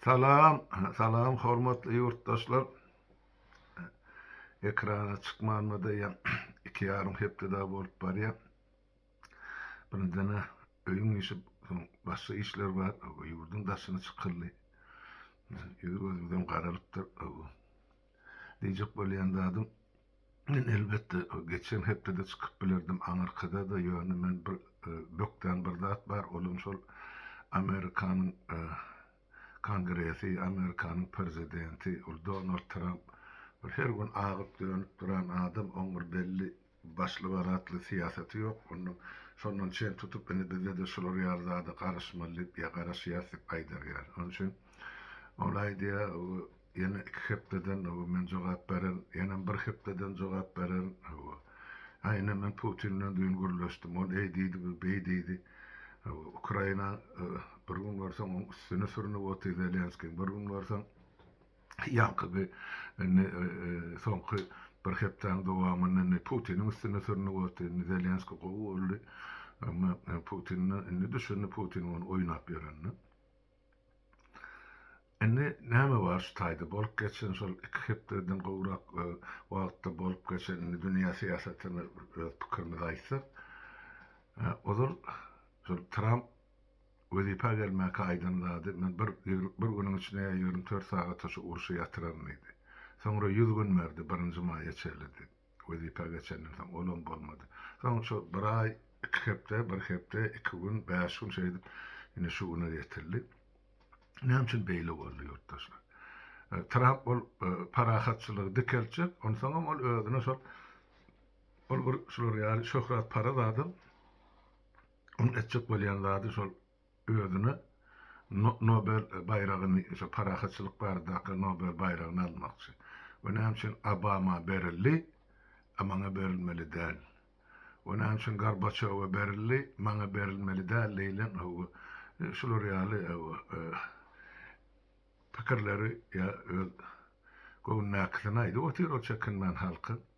Salam, salam hormatly ýurtdaşlar. Ekrana çykmanyma da ýa iki ýarym hepde daha bolup barýar. Birinjiden öýüň işi, başga işler bar. Ýurduň daşyna çykyldy. Ýüz gözümden garalypdyr. Diýjek bolýan zadym, men elbetde geçen hepdede çykyp bilerdim aňyrkada-da, ýöne men bir bökden bir zat bar, olam şol Amerikanyň Kongresi, Amerikanyň Prezidenti, ol Donald Tramp, bir her gün agyp-dönüp duran adam, oň bir belli Başlyga ratly syýasaty ýok. Onda şondan çen tutup indi bizde-de şular ýaly zada garaşmaly diýip ýa garaşýas diýip aýdar ýaly. Onuň üçin ol aýdýa ýene iki hepdeden men jogap bererin, ýenem bir hepdeden jogap bererin. Hawa. Ine men Putin bilen düýn gürleşdim. Ol eý diýdi, bu beý diýdi. Hawa. Ukraina bir gün görseň oň üstüne sürnüp otyr Zelenskiň, bir gün görseň Ýaňky indi soňky bir hepdäniň dowamynda indi Putiniň üstüne sürnüp otdy. Indi Zelenski gowy boldy. Emma Putinine indi düşündi Putin ony oýnap ýörenini. Indi näme bar şu taýda bolup geçen şol iki hepdeden gowrak wagtda bolup geçen indi dünýä syýasatyny öz pikirimizi aýtsak, ozal şol Tramp Wezipä gelmäkä aýdan zady, Men bir bir günüň içinde ýa ýigrimi dört sagata şu urşy ýatyraryn diýdi. Soňra ýüz gün berdi, birinji maýa çenli diýip. Wezipä geçenden soň, olam bolmady. Soň şu bir aý, iki hepde, bir hepde, iki gün, bäş gün şeýdip, ine şu güne ýetildi. Näme üçin beýle boldy, ýurtdaşlar? Tramp ol parahatçylygy dikeltjek, onsoňam ol özüne şol, ol bir şular ýaly şöhrat-paraz adam, Onuň etjek bolýan zady şol özüne Nobel baýragyny, şo parahatçylyk baradaky Nobel baýragyny almakçy. We näme üçin Obama berildi, a maňa berilmeli däl? We näme üçin Gorbaçýowa berildi, maňa berilmeli däl diýlen bu şular ýaly pikirleri ýa öz göwnündäkisini aýdyp otyr ol çekinmän halkyň.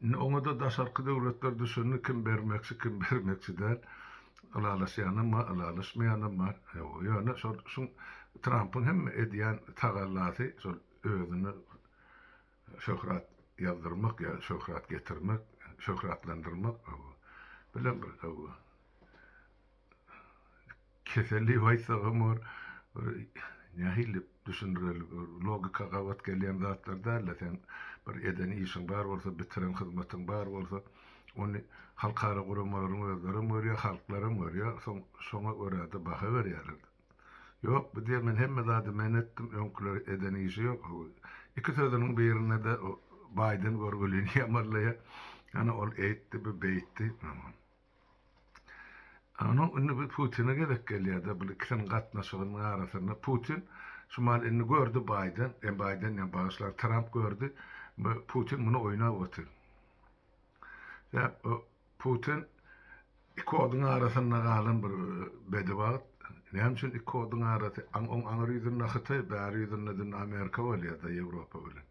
Indi oňada daşarky döwletler düşündi kim bermekçi kim bermekçi däl. Ylalaşýanam bar ylalaşmaýanam bar. Ýöne şol şu Trampyň hemme edýän tagallasy şol özüne şöhrat ýazdyrmak ýa şöhrat getirmek şöhratlandyrmak bilen bir Keselli waýsagam bar. Bir nähili düşündireli bir logika gabat gelýän zatlar dälde sen bir eden işiň bar bolsa bitiren hyzmatyň bar bolsa ony halkara guramalaryň özlerem görýär halklaram görýär soň şoňa görä-de baha berýärler. Ýok bu diýen men hemme zady men etdim öňküler eden işi ýok o iki sözüniň birinde-de o baýdan görgülini ýamarlaýar ana ol eýtdi bu beýtdi. Ýöne indi bu Putine gezek gelýär-de, bu ikisiniň gatnaşygynyň arasynda Putin şumal indi gördi Baýden, e, Baýden diýýän, bagyşlaň, Tramp gördi, bu Putin muny oýnap otyr. Sebäp o Putin iki oduň arasynda galan bir bedewagt, näme üçin iki oduň arasy, aň oň aňry ýüzünde Hytaý, bäri ýüzünde dünde Amerika bolýar-da Ýewropa bilen.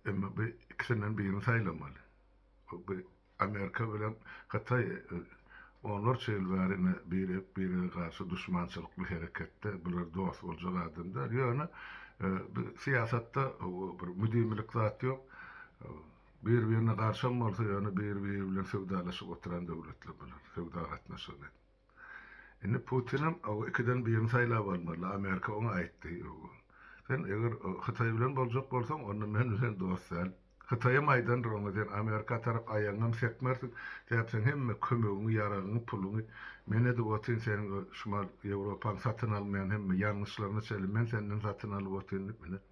Emma bu ikisinden birini saýlamaly. Bu Amerika bilen Hytaý onlarça ýyl bäri ine birek-birege garşy duşmançylykly hereketde, bular dost boljak adam däl. Ýöne bu syýasatda bir müdimilik zat ýok. Bir-birine garşam bolsa, ýöne bir-biri bilen söwdalaşyp oturan döwletler bular, söwda gatnaşygyny edip. Indi Putinem o ikiden birini saýlap almaly, Amerika oňa aýtdy, Sen eger Hytaý bilen boljak bolsaň, onda men bilen dost däl. Hytaýam aýdandyr oňa, Sen Amerika tarap aýagyňam sekmersiň, sebäpseň hemme kömegiňi, ýaragyňy, puluňy men edip otyryn, seniň o Şimal Ýewropaň satyn almaýan hemme ýangyçlaryňy çenli men senden satyn alyp otyryn diýip, ine,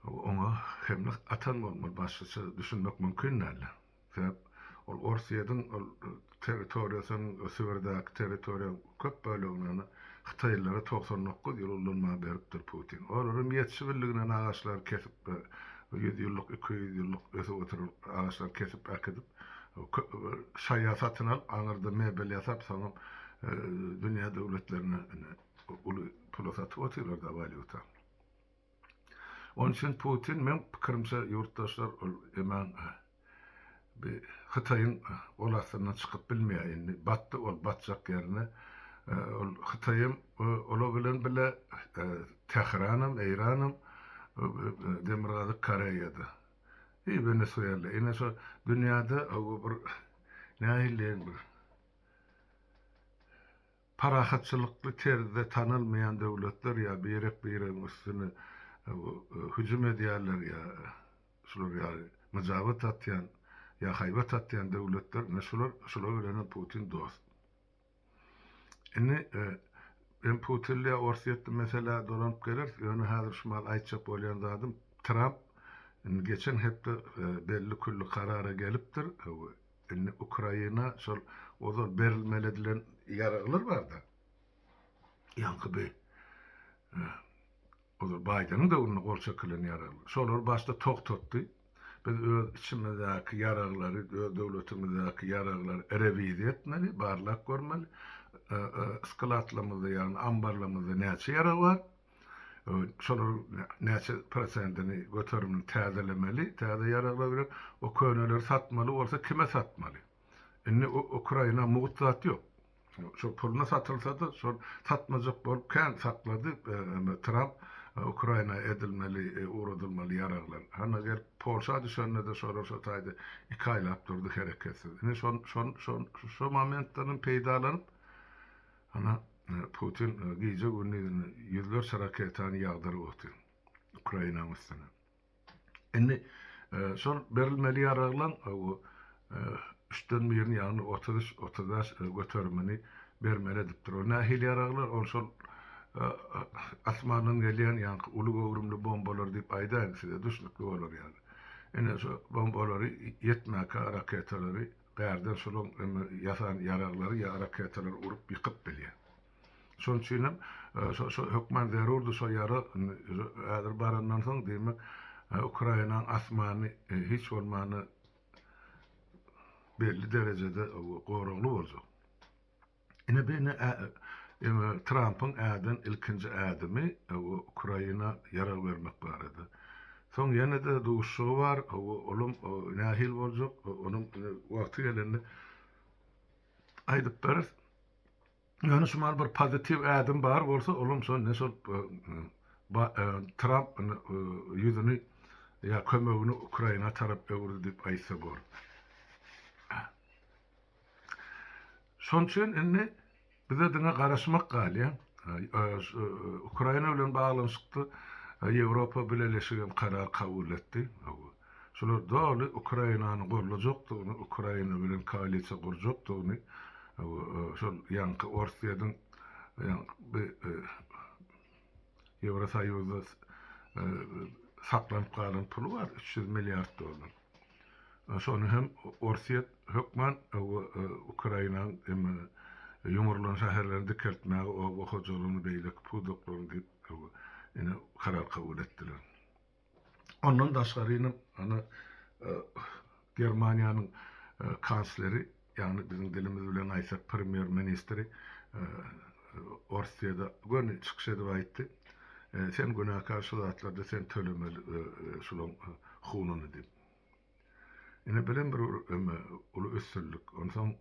oňa hemle atan bolmaly, başgaça düşünmek mümkin däl. Sebäp ol Orsýetiň ol territoriýasynyň, Sibirdäki territoriýaň köp bölegini hytaýlylara togsan dokuz ýyl ullanmaga beripdir Putin. Olaram ýetişip bildiginden agaçlary kesip, ýüz ýyllyk, iki ýüz ýyllyk ösüp oturan agaçlary kesip äkidip, şaýa satyn alyp, aňyrda mebel ýasap, soňam dünýä döwletlerine indi uly pula satyp otyrlar-da, walýuta. Onuň üçin Putin, meň pikirimçe, ýurtdaşlar, ol eman bi Hytaýyň gol astyndan çykyp bilmeýär indi. Batdy ol, batjak ýerine. Ol Hytaýam, olar bilen bile Tähranam, Eýranam, Demirgazyk Koreýada i Wenesuela. Ine şo dünýäde bir nähiliýeň bir. Parahatçylykly terzde tanalmaýan döwletler ýa birek-biregiň üstüne hüjüm edýärler ýa şular ýaly myjabat atýan ýa haýbat atýan döwletler ine şular şular bilenem Putin dost. Indi men Putinle Orsýetli meselä dolanyp geleris ýöne häzir şu mahaly aýtjak bolýan zadym Tramp indi geçen hepde belli külli karara gelipdir Indi Ukraina şol ozal berilmeli edilen ýaraglar barda. Ýaňky bi ozal Baýdeniň döwründe gol çekilen ýaraglar. Şolary başda togtatdy. Biz öz içimizdäki ýaraglary, öz döwletimizdäki ýaraglary rewiziýa etmeli, barlap görmeli. Skladlarymyzda, ýagny ambarlarymyzda näçe ýarag bar? Şolaryň näçe prosentini göterimini täzelemeli, täze ýaraglar bilen, o köneleri satmaly bolsa kime satmaly? Indi Ukraina mugt zat ýok. Şol puluna satylsa-da, şol satmajak bolup kän saklady Tramp Ukraina edilmeli, ugradylmaly ýaraglar. Hany gelip Polşa düşende-de şolar şo taýda iki aýlap durdy hereketsiz. Indi şo momentlerden peýdalanyp, Ana, Putin gije-gündiz ýüzlerçe raketany ýagdyryp otyr Ukrainanyň üstüne. Indi şol berilmeli ýaraglaň üçden birini, ýagny otuz üç, otuz bäş göterimini bermeli edipdir. Ol nähili ýaraglar? Ol şol asmandan gelýän ýaňky uly göwrümli bombalar diýip aýdaýyn size, düşnükli bolar ýaly. Ine, şo bombalary ýetmäkä raketalary Gärden şolaň ýasan ýaraglary ýa raketalary urup ýykyp bilýär. Şonuň üçin hem şo hökman zerurdy şo ýarag häzir barandan soň diýmek Ukrainanyň asmany hiç bolmanda belli derejede goragly boljak. Ine bu indi indi Trampyň äden ilkinji ädimi Ukraina ýarag bermek barada. Soň ýene-de duşuşygy bar, olam nähili boljak, onam indi wagty gelende aýdyp beris. Ýöne şu mahaly bir pozitiw ädim bar bolsa, olam şol indi şol Tramp indi ýüzüni ýa kömegini Ukraina tarap öwürdi diýip aýtsa bor. Şonuň üçin indi bize diňe garaşmak galýar. Ukraina bilen baglanyşykda Ýewropa Bileleşigi hem karar kabul etdi. Şular doly Ukrainany goldajakdygyny, Ukraina bilen koalisiýa gurjakdygyny şol ýaňky Orsýetiň Ýewrosoýuzda saklanyp galan puly bar, üç ýüz milliard dollar. Şony hem Orsýet hökman Ukrainanyň emma ýumrulan şäherlerini dikeltmäge oba hojalygyny beýleki pudaklaryny diýip ine karar kabul etdiler. Ondan daşgary ine ana Germaniýanyň kansleri Ýagny biziň dilimiz bilen aýtsak premýer ministri Orsýede göni çykyş edip aýtdy, sen günäkär şu zatlarda sen tölemeli şulaň hununy diýip. Ine belem bir eme uly üstünlik. Onsoň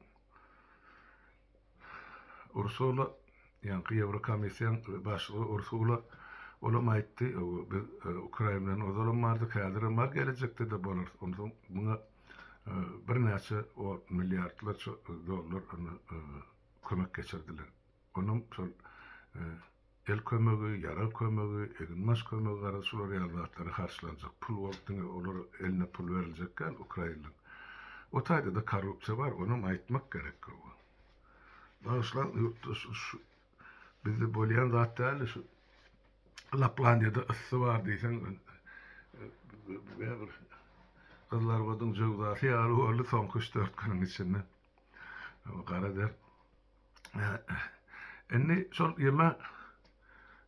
Ursula ýaňky Ýewrokomissiýaň başlygy Ursula olam aýtdy, biz Ukrain bilen ozalam bardyk, häzirem bar gelejekde-de bolarys. Onsoň muňa birnäçe ot milliardlarça dollar ony kömek geçirdiler. Onuň şol el kömegi, ýarag kömegi, eginbaş kömegi garaz şular ýaly zatlara harçlanjak pul bolup diňe olar eline pul beriljek däl ukrainliň. O taýda-da korrupsiýa bar, onam aýtmak gerek. Bagyşlaň ýurtdaş Bizde bolýan zat däldi şu. Laplandiýada ysy bar diýseň, bir gyzlarbadyň jöwzasy ýaly boldy soňky üç-dört günüň içinde. Gara der. Indi şol ýeme,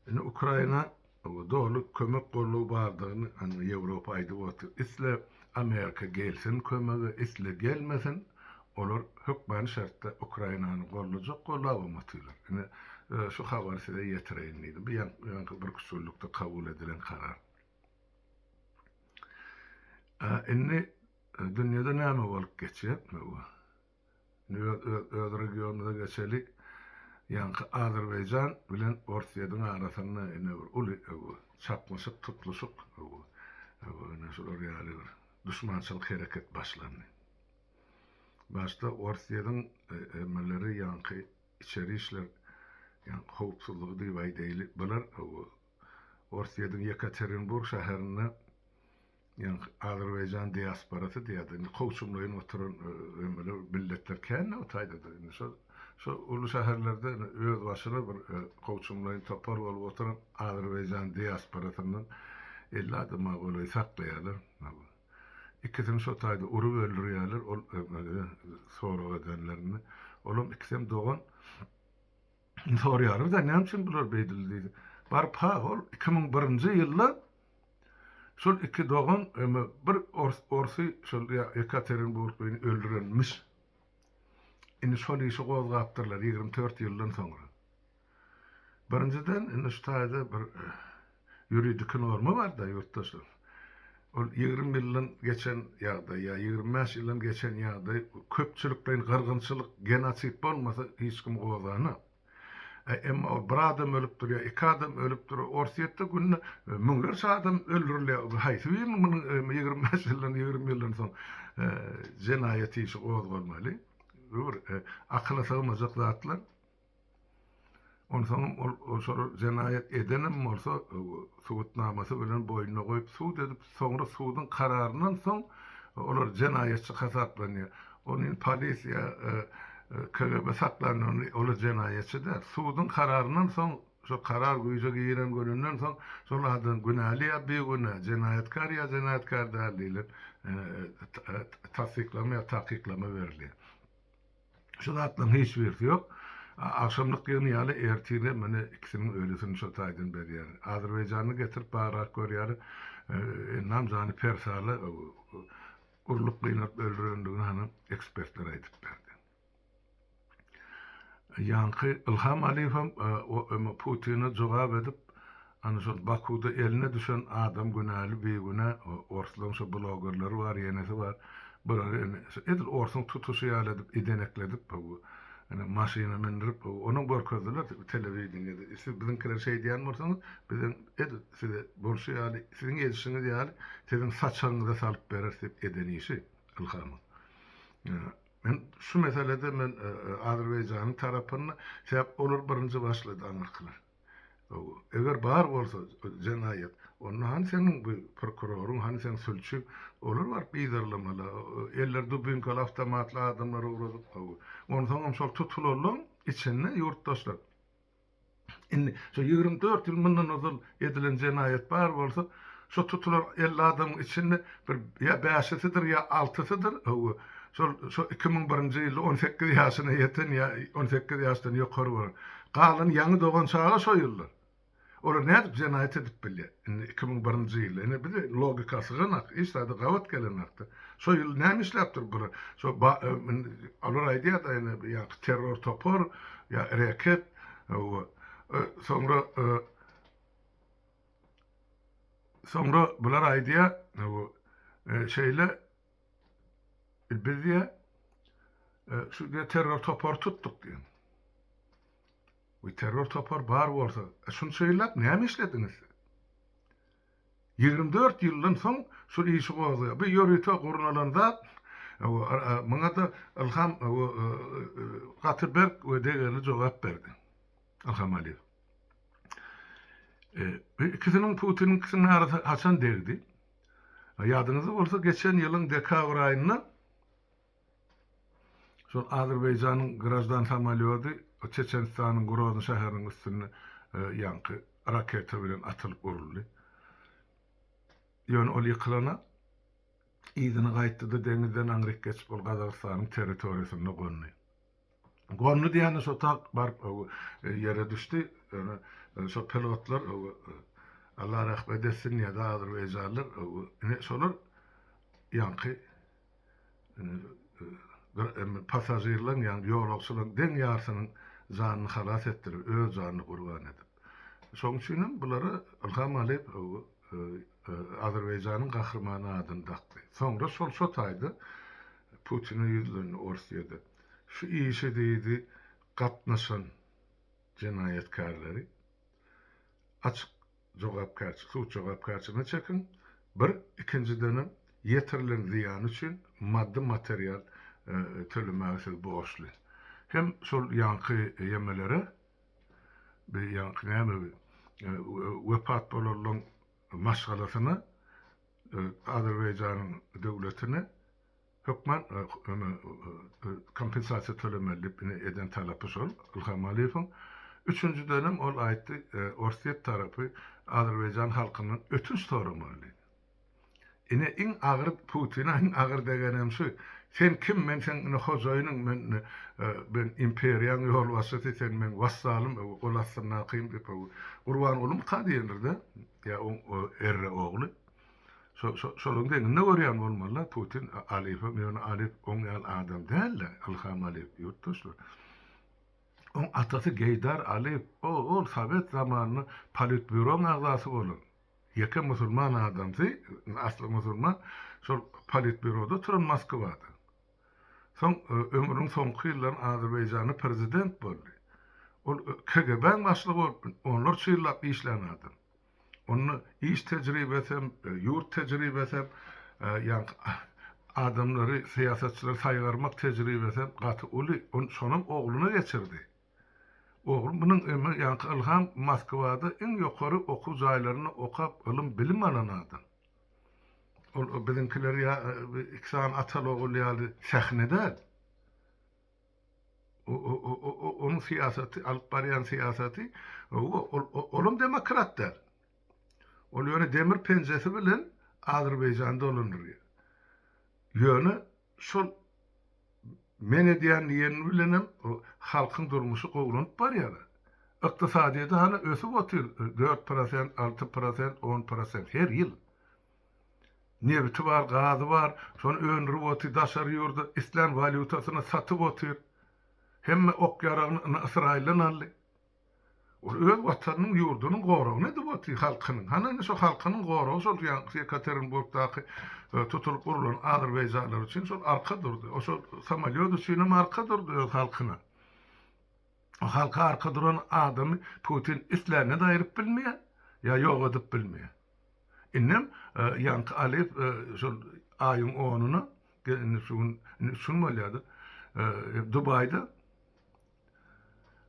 indi Ukraina Oňa doly kömek goldaw bardygyny ana Ýewropa aýdyp otyr. Isle Amerika gelsin kömege, isle gelmesin, olar hökmany şertde Ukrainany goldajak, goldabam otyrlar. Ine, şu habary size ýetireýin diýdim. Bu ýaňky birküçüllikde kabul edilen karar. A indi dünýede näme bolup geçýär? Öz regionymyza geçeli. Ýaňky Azerbaýjan bilen Orsýediň arasynda ine bir uly bu çaknyşyk, tutluşyk bu. Ine şular ýaly bir duşmançylyk hereket başlandy. Başda Orsýediň emmeleri ýaňky içeri işler ýaňky howpsuzlygy diýip aýdaýly bular bu Orsýediň Ýekaterinburg şäherinde Ýöne Azerbaýjan diasporasy diýýärdi. Indi kowçumlaýyn oturan emeli milletler kän-de o taýda-da. Indi şol, şol uly şäherlerde özbaşyna bir kowçumlaýyn topar bolup oturan Azerbaýjan diasporasyndan elli adam-a golaý saklaýarlar. Ikisini şo taýda urup öldürýärler, ol emeli sorag edenlerinde. Olam ikisem dogan. Sorýarlar-da, näme üçin bular beýdildi diýdi. Baryp, ha, ol iki müň birinji ýylda şol iki dogan eme bir orsy şol Ýekaterinburglyny öldürenmiş. Indi şol işi gozgapdyrlar ýigrimi dört ýyldan soňra. Birinjiden, indi şu taýda bir Ýuridiki norma bar-da, ýurtdaşlar. Ol ýigrimi ýyldan geçen ýagdaý ýa ýigrimi bäş ýyldan geçen ýagdaý köpçülikleýin gyrgynçylyk, genosid bolmasa hiç kimi gozganok. Äý, emma ol bir adam ölüpdir ýa iki adam ölüpdir. Orsýetde günde müňlerçe adam öldürilýär. Bu haýsy biriniň munuň ýigrimi bäş ýyldan, ýigrimi ýyldan soň jenaýat işi gozgalmaly? Bu bir akyla sygmajak zatlar. Onsoňam ol şol jenaýat edenem bolsa, subutnamasy bilen boýnuna goýup sud edip, soňra suduň kararyndan soň olar jenaýatçy hasaplanýar. Ol indi polisiýa, KGB saklanylanda olar jenaýatçy däl. Suduň kararyndan soň, şol karar güýje giren gününden soň şol adam günäli ýa bigünä, jenaýatkar ýa jenaýatkar däl diýlip tassyklama ýa takyklama berilýär. Şu zatlaryň hiç birisi ýok. Agşamlyk ýygny ýaly ertire mine ikisiniň ölüsini şo taýdan berýärin. Azerbaýjany getirip bagrak görýärin. Ynam jany persala urlup gynalyp öldürendigini hany ekspertler aýdyp berdi. Ýaňky Ylham Alýewem Putine jogap edip, Ana şol Bakuda eline düşen adam günäli bigünä orslaň şo blogerleri bar ýenesi bar bular indi edil orsuň tutuşy ýaly edip idenekledip bu indi maşyna mindirip onam görkezdiler telewideniýede siz biziňkileri şeýdýän bolsaňyz bizem edil size bolşy ýaly siziň edişiňiz ýaly siziň saçagyňyza salyp bereris diýip eden işi Ilhamyň men şu meselede men Azerbaýjanyň tarapynda sebäp olar birinji başlady aňyrkylar. Eger bar bolsa jenaýat, onda hany seniň bu prokuroryň, hany seň sülçüň? Olar baryp gyzarlamaly. Elleri dubinkali, awtomatly adamlar ugradyp, hawa. Onsoňam şol tutulanlaň içinde ýurtdaşlar. Indi şo ýigrimi dört ýyl mundan ozal edilen jenaýat bar bolsa, Şo tutulan elli adamyň içinde bir ýa bäşisidir, ýa altysydyr, hawa, şol şo iki müň birinji ýylda on sekiz ýaşyna ýeten ýa on sekiz ýaşdan ýokary bolan. Galany ýaňy dogan çaga şo ýyllar. Olar nädip jenaýat edip bilýär? Indi iki müň birinji ýyl. Ine bir logika syganok, hiç zady gabat gelenok-da. Şo ýyl näme işläpdir bular? Şo olar aýdýar-da indi ýaňky terror topar ýa reket, hawa, soňra Soňra bular aýdýar, bu şeýle biz diýýär, şu diýýär terror topary tutduk diýýär. Bu terror topary bar bolsa, şunça ýyllap näme işlediňiz siz? Ýigrimi dört ýyldan soň şu işi gozgaýar. Bu ýörite gurnalan zat, muňa-da Ylham gaty berk we degerli jogap berdi. Ylham Aliýew. Bu ikisiniň Putiniňkisiniň arasy haçan degdi? Ýadyňyzda bolsa geçen ýylyň dekabr aýynda şol Azerbaýjanyň graždan samolýody Çeçenistanyň Grozny şäheriniň üstüne ýaňky raketa bilen atylyp uruldy. Ýöne ol ýykylana yzyna gaýtdy-da deňizden aňryk geçip ol Gazagystanyň territoriýasynda gondy. Gormly diýende şo tak baryp ýere düşdi. Ýöne şo pilotlar Allah rahmet etsin diýýär azerbaýjanlar. Ine şolar ýaňky passažirleriň ýa ýolagçylaryň deň ýarsynyň janyny halas etdiler, öz janyny gurban edip. Şonuň üçin hem bulara Ylham Aliýew Azerbaýjanyň gahrymany adyny dakdy. Soňra şol şo taýda Putine ýüzlendi ors ýedi. Şu işe diýdi gatnaşan jenaýatkärleri açyk jogapkärçi sud jogapkärçiligine çekiň, bir, ikinjidenem ýetirilen zyýan üçin maddy material tölemäge siz borçly. Hem şol ýaňky ýemelere Bir ýaňky näme bi wepat bolanlaň maşgalasyna Azerbaýjanyň döwletine hökman kompensasiýa tölemeli diýip ine eden talapy şol Ilham Aliýewiň. Üçünjidenem ol aýtdy Orsýet tarapy Azerbaýjan halkyndan ötünç soramaly diýdi. Ine iň agyr Putina iň agyr degenem şu sen kim men seň ine hojaýynyň men men imperiýaň ýolbaşçysy sen meň wassalym öw gol astyndakym diýip öw Gurbanguly Muta diýendirde ýa oň erre ogly şo şo şolaň deňinde görýän bolmalyda Putin Alifem ýöne Alif oň ýaly adam dälde Ylham Alif ýurtdaşlar oň atasy Geýdar Alif o ol sowet zamanynda politbýuroň agzasy bolan. Ýeke musulman adamsy, asly musulman, şol politbýuroda oturan Moskwada. Soň ömrüniň soňky ýyllaryny Azerbaýjanda prezident boldy. Ol KGB-niň başlygy bolup onlarça ýyllap işlän adam. Onda iş tejribesi hem, ýurt tejribesi hem, ýaňky adamlary, syýasatçylary saýgarmak tejribesi hem gaty uly. Ony şonam ogluna geçirdi. Oglum munuň ömri ýaňky ylham Moskwada iň ýokary okuw jaýlarynda okap ylym-bilim alan adam. Ol biziňkiler ýa iki sany ataly-ogul ýaly sähne däl. Onuň syýasaty, alyp barýan syýasaty, hawa, olam demokrat däl. Ol ýöne demir penjesi bilen Azerbaýjany dolandyrýar. Ýöne Şol men edýän diýeni bilenem halkyň durmuşy gowlanyp barýar. Ykdysadyýeti hany ösüp otyr, dört prosent, alty prosent, on prosent her ýyl. Nebiti bar, gazy bar, şony öndürip otyr, daşary ýurda islän walýutasyna satyp otyr. Hemme ok-ýaragyny indi Ysraýyldan aldy. Ol öz watanynyň, ýurdunyň goragyny edip otyr, halkynyň. Hany, indi şo halkynyň goragy şol Ýekaterinburgdaky tutulyp urlan azerbaýjanlar üçin şol arka durdy. O şol samolýot üçinem arka durdy öz halkyna. O halka arka duran adamy Putin islände-de aýryp bilmeýär, ýa ýok edip bilmeýär. Indem ýaňky Aliýew şol aýyň onyna, indi şu gün, indi üç gün bolýar-da, Dubaýda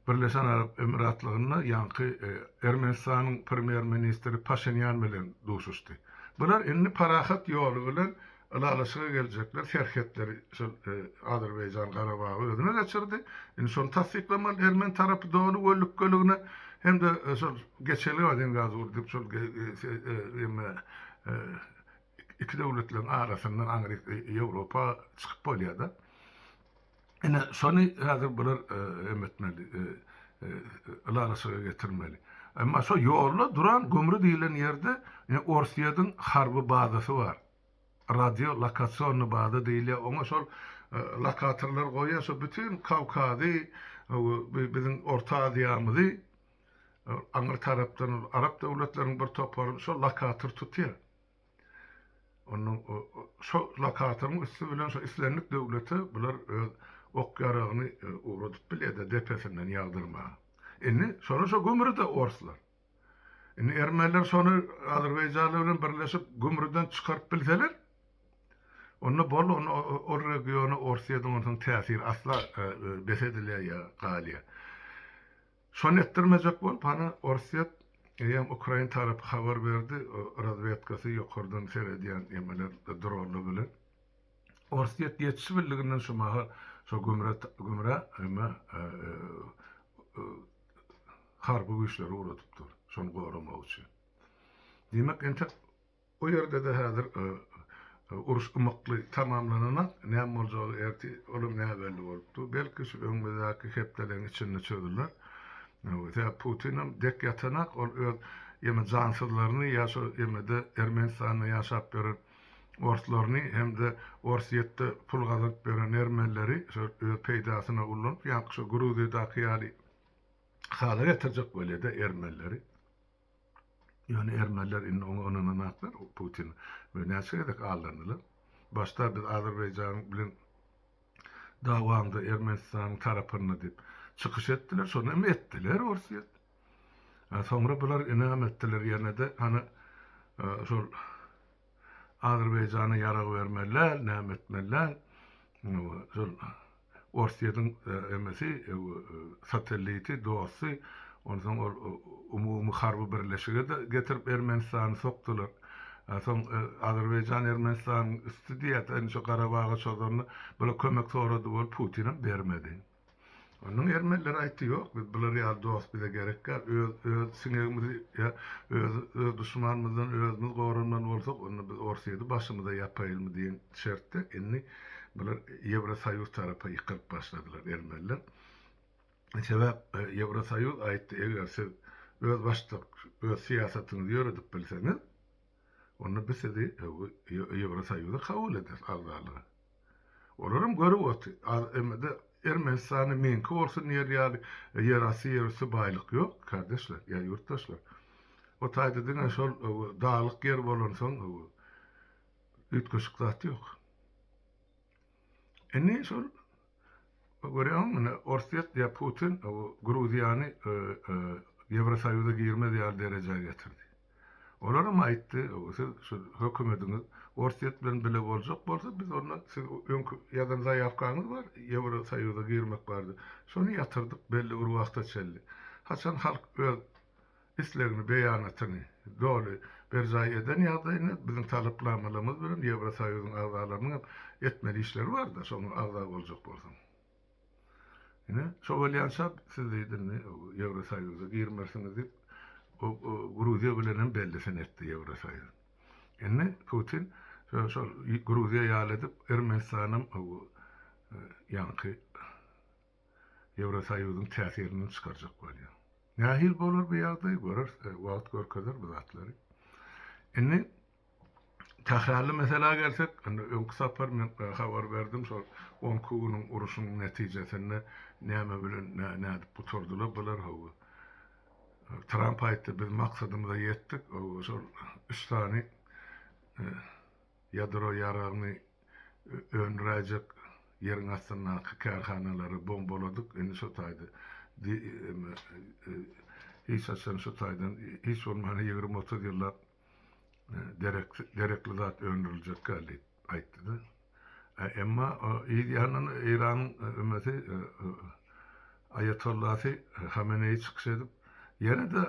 Birleşen Arap Emiratlygynda ýaňky Ermenistanyň premýer-ministri Paşinýan bilen duşuşdy. Bular indi parahat ýoly bilen ylalaşyga geljekler, serhetleri şol Azerbaýjan Garabagy özüne geçirdi. Indi şony tassyklamaly ermeni tarapy doly we lükgeligine hem-de şol geçelgä deň gaz urdyp şol emme iki döwletleriň arasyndan aňryk Ýewropa çykyp bolýar-da. Ine, şony häzir bular em etmeli, ylalaşyga getirmeli. Emma şo ýolda duran gümri diýlen ýerde Orsýediň harby bazasy bar. Radio lokasionny baza diýilýär. Oňa şol lokatorlar goýýar, şo bütin Kawkazy, biziň Orta Aziýamyzy aňry tarapdan arap döwletleriniň bir toparyny şo lokator tutýar. Onda şo lokatoryň üsti bilen şo islendik döwlete bular öz ok ýaragyny ugradyp bilýärdi depesinden ýagdyrmaga. Indi şony şo gümrüde orslar. Indi ermeniler şony azerbaýjanlar bilen birleşip gümrüden çykaryp bilseler, onda boldy, onda ol regiona orsiýadan onsoň täsir asla bes edilýär ýa galýar. Şony etdirmejek bolup hany Orsýet eýýäm Ukrain tarapy habar berdi razwedkasy ýokardan seredýän emeler dronlar bilen Orsýet ýetişip bildiginden şu mahal şo gümre gümre eme harby güýçleri ugradypdyr şony goramagy üçin. Diýmek entek O ýerde-de häzir uruş ymykly tamamlananak, näme boljagy ertir olam näbelli bolup dur. Belki şu öňümizdäki hepdeleň içinde çözüler. Sebäp Putinem dek ýatanak, ol öz ýene jansyzlaryny ýa şo ýemede Ermenistanda ýaşap ýören orslaryny hem-de Orsýetde pul gazanyp ýören ermenileri şo öz peýdasyna ullanyp, ýaňky şo Gruziýadaky ýaly hala getirjek bolýa-da ermenileri. Ýöne ermeniler indi oňa ynananaklar Putin we näçe gezek aldandylar. Başda biz Azerbaýjan bilen dawamda Ermenistanyň tarapynda diýip çykyş etdiler, şony hem etdiler Orsýet. Soňra bular ynam etdiler ýene-de hany şol Azerbaýjana ýarag bermeli däl, näme etmeli däl. Şol Orsýetiň emesi, satelliti, dosty. Onsoň ol umumy harby birleşige-de getirip Ermenistany sokdular. Soň Azerbaýjan Ermenistanyň üsti diýýär, sen şu Garabaga çozanda, bular kömek sorady bolup, Putinem bermedi. Onuň ermenler aýtdy, ýok, biz bular ýaly dost bize gerek däl, öz öz siňegimizi ýa öz öz duşmanymyzdan özümiz goranmaly bolsak, onda biz Orsýeti başymyza ýapaýylmy diýen şertde indi bular Ýewrosoýuz tarapa ýykylyp başladylar ermenler. Sebäp Ýewrosoýuz aýtdy, eger siz öz başdak öz syýasatyňyzy ýöredip bilseňiz, onda biz sizi Ýewrosoýuza kabul ederis agzalyga. Olaram görüp oty az emede ermenistanda meňki bolsun diýer ýaly ýerasty ýerüsti baýlyk ýok kardeşler ýa ýurtdaşlar o taýda diňe şol daglyk ýer bolansoň üýtgeşik zat ýok indi şol görýäňmi mine orsýet ýa putin gruziýany ýewrosoýuza girmez ýaly derejä getirdi. Olaram aýtdy, siz şu hökümediňiz Orsýet bilen bile boljak bolsa, biz onda siz öňki ýazan zaýawkaňyz bar, Ýewrosoýuza girmek bardy. Şony ýatyrdyk belli bir wagta çenli. Haçan halk öz islegini, beýanatyny doly berjaý eden ýagdaýynda biziň talapnamalarymyz bilen Ýewrosoýuzyň agzalarynyň hem etmeli işleri bar-da, şoňa agza boljak bolsaň. Ine, şo bolýança siz diýdi, indi Ýewrosoýuza girmersiňiz diýip, o Gruziýa bilen hem bellisini etdi Ýewrosoýuz. Indi Putin şol Gruziýa ýaly edip, Ermenistanam ýaňky Ýewrosoýuzyň täsirinden çykarjak bolýar. Nähili bolar bu ýagdaý, göreris, wagt görkezer bu zatlary. Indi Tährärli meselä gelsek, indi öňki sapar men habar berdim, şol on iki günüň uruşyň netijesinde näme bilen, nädip gutardylar bular, hawa. Tramp aýtdy, biz maksadymyza ýetdik, hawa, şol üç sany ýadro ýaragyny öndüräýjek ýeriň astyndaky kärhanalary bombaladyk, indi şo taýda hiç haçan şu taýdan, hiç bolmanda ýigrimi-otuz ýyllap, gerekli zat öndüriljekkä diýip aýtdy-da, emma yz ýandan Eýranyň ömesi aýatollahy Hameneýi çykyş edip, ýene-de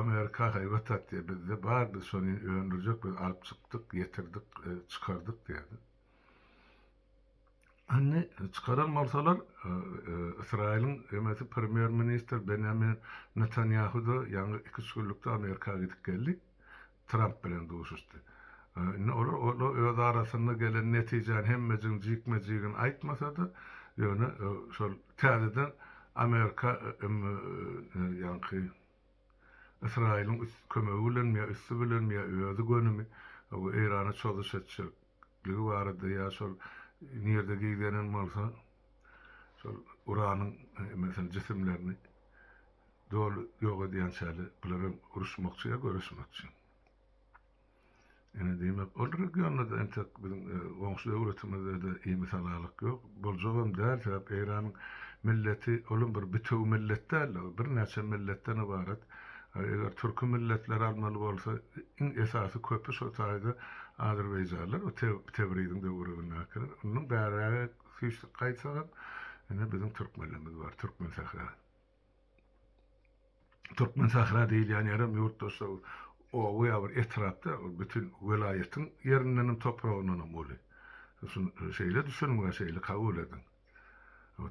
Amerika haýbat atýar, bizde bar, biz şony indi öndürjek, biz alyp çykdyk, ýetirdik, çykardyk diýýärdi. Indi çykaran bolsalar, Ysraýylyň emesi premýer-ministr Benýamin Netanýahu-da ýaňy iki-üç günlükde Amerika gidip geldi, Tramp bilen duşuşdy. Indi olar öz arasynda gelen netijäni hemmejigiň jikme-jigini aýtmasa-da, ýöne şol täzeden Amerika ýaňky Ysraýylyň üs kömegi bilenmi ýa üsti bilenmi ýa özi gönümi Eýrana çozuş etjekligi barada ýa şol nirde gizlenen bolsa şol uranyň meselem jisimlerini doly ýok edýänçäli bular hem uruşmakçy ýa göreşmekçi. Ine, diýmek, ol regionda-da entek biziň goňşy döwletimizde-de imi-salalyk ýok. Boljagam däl, sebäp Eýranyň milleti olam bir bitewi millet däl-de, ol birnäçe milletden ybarat. Eger türki milletleri almaly bolsa, iň esasy köpi şol taýda azerbaýjanlar, bu Tebriziň töweregindäkiler. Ondan bärägek süýşdük gaýtsagam, ine, biziň türkmenlerimiz bar, Türkmensähra. Türkmen sahra diýilýän ýerem ýurtdaşlar oba ýa bir etrapda bütin welaýatyň ýerindenem topragyndanam uly. Şeýle düşüniň we şeýle kabul ediň.